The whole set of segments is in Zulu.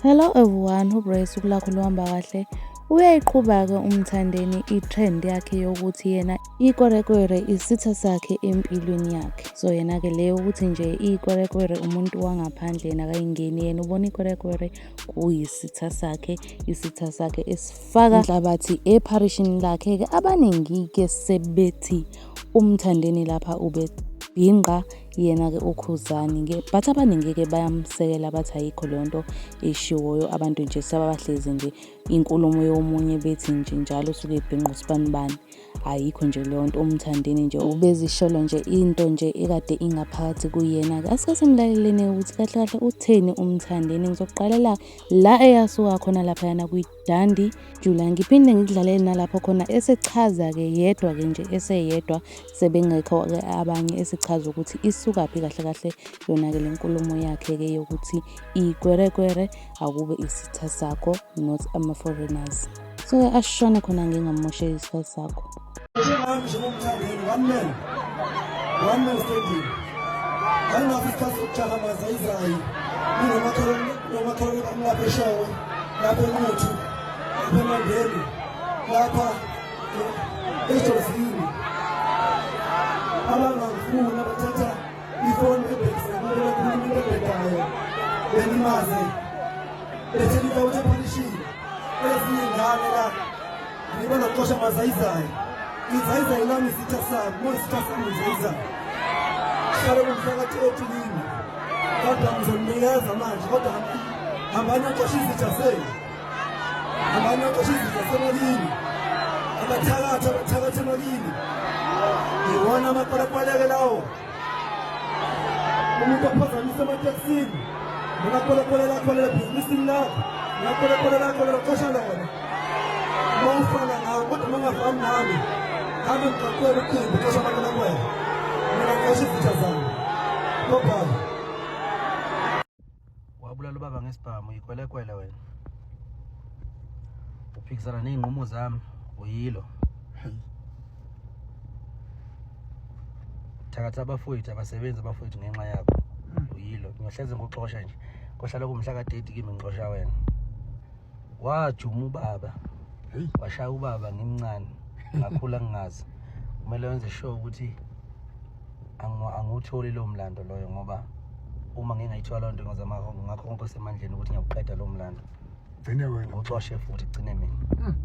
Hello everyone, hope usuku lakho luhamba kahle. Uyayiqhuba-ke uMthandeni i-trend yakhe yokuthi yena ikwerekwere isitha sakhe empilweni yakhe. So yena-ke le yokuthi nje ikwerekwere umuntu wangaphandle yena akayingeni yena ubona ikwerekwere kuyisitha sakhe, isitha sakhe esifaka inhlabathi epharishini lakhe-ke abaningi-ke sebethi umthandeni lapha ubebhinqa yena-ke ukhuzani but abaningi-ke bayamsekela bathi ayikho leyo nto eshiwoyo abantu nje sebabahlezi nje inkulumo yomunye bethi nje njalo usuke ebhinqa usibanibani ayikho nje leyo nto umthandeni nje ubezisholo nje into nje ekade ingaphakathi kuyena-ke asike simlaleleni ukuthi kahle kahle utheni umthandeni ngizoqalela la eyasuka khona laphayana kwi-d Dandi Jula ngiphinde ngikudlalele nalapho khona esichaza-ke yedwa-ke nje eseyedwa sebengekho-ke abanye esichaza ukuthi isukaphi kahle kahle yona-ke le nkulumo yakhe-ke yokuthi ikwerekwere akube isitha sakho not ama-foreigners so-ke ashone khona ngingamosheli isikhathi sakho Njengami nje ngomthandeni one man. One man standing. Anginaso isikhathi sokujaha mazayizayi. Nginomakhalwane nomakhalwane bami lapha eshowe. Lapha eNquthu. Lapha eMandeni. Lapha eJozini. Abangangifuni abathatha ifoni ebhekise abantu bakhuluma into ebhedayo. Benimaze. Bethe ngitawuthe phanishini. Ezinye ngane la. Ngibona kuxosha amazayizayo. Izayizayo lami isitha sami, mona isitha sami izayizayo. Hlale kumphakathi othulini. Kodwa ngizomnikeza manje kodwa hambani axoshe izitha senu. Hambani axoshe izitha semalini. Abathakathi abathakathi emalini. Iwona amapalapaleke lawo. umuntu ophazamisa ematekisini nonakholekole lakho lelo bhizinisini lakho nonakholekole lakho lelo xesha lona uma ufana nawo kodwa uma ungafani nami nami ngixoxela ucingo xesha abantu lakwena mina ngisho izitha zami no problem wabulala ubaba ngesibhamu yikwelekwele wena uphikisana ney'nqumo zami uyilo thakatha abafowethu abasebenzi abafowethu ngenxa yakho hmm. uyilo ngiyohleze ngoxosha nje kohlala kumhla kadedi kimi ngixosha wena wajuma ubaba washaya ubaba ngimncane ngakhula ngingazi kumele wenze sure ukuthi angiwutholi lowo mlando loyo ngoba uma ngingayithola loo nto ngizama ngakho konke osemandleni ukuthi ngiyawuqeda lowo mlando gcine wena ucoshe futhi gcine mina hmm.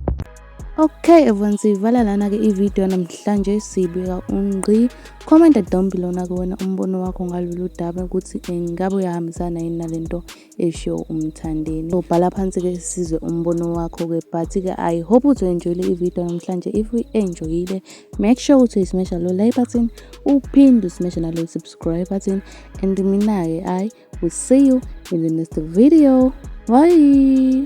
Okay everyone siyivala lana ke ivideo namhlanje sibika ungqi comment down below na kuwena umbono wakho ngalolu daba ukuthi engabe uyahambisana yini nalento esho umthandeni so bhala phansi ke sizwe umbono wakho ke but ke i hope uzoenjoyile ivideo namhlanje if uyi-enjoyile make sure ukuthi uyisimesha lo like button uphinde usimeshe nalo subscribe button and mina-ke i will see you in the next video bye